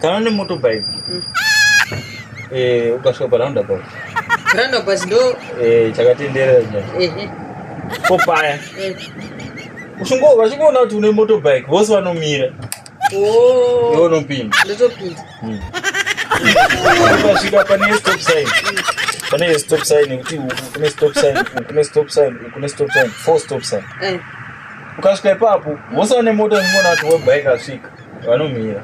kana une motorbike mm. eh, ukasvika paroundabout roundabout ndo eh, chakatenderera china ko paya vachingoona kuti une motorbike vose vanomira oh. iwe unopinda ndotopinda hmm. ukasvika pane stop sign pane stop sign yekuti kune stop sign kune stop sign kune stop sign four stop sign eh. ukasvika ipapo vose vane mota vachingoona kuti webike asvika vanomira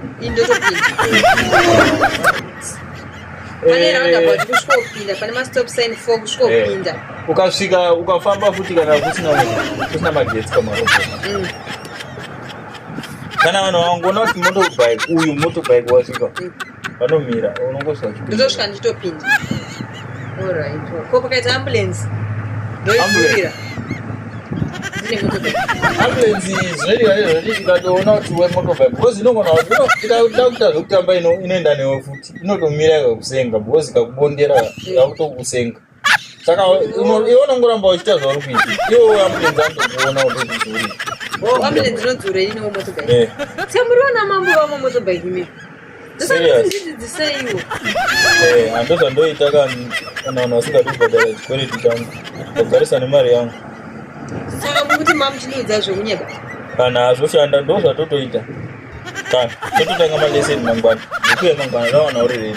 ukasvika ukafamba futi kana kusina magetsi kwamarobota mm. kana vanhu vangoona kuti motobike uyu motobike wasvika vanomira unongosva ndotosvika ndichitopinda olright ko pakaita ambulance ndoiira ambulensi zvoiikatoona kuti wemotobike because inogona ida kuita zvekutamba inoenda newe futi inotomira ikakusenga because ikakubondera yakutokusenga saka iwe unongoramba uchiita zvauri kuita iwe uya mutenzi andokuona utokudzuri wamene dzinodzura ini wamotobike eh. samuriona mambo vamwe motobike imi ndosaiwo hando zvandoita kana vanhu vasingadi kubhadhara chikwereti changu ndagarisa nemari yangu saka mukuti mamuchiniudza zvekunyeba kana hazvoshanda ndo zvatotoita kana tototanga maleseni mangwana nekuya mangwana rawana uri rei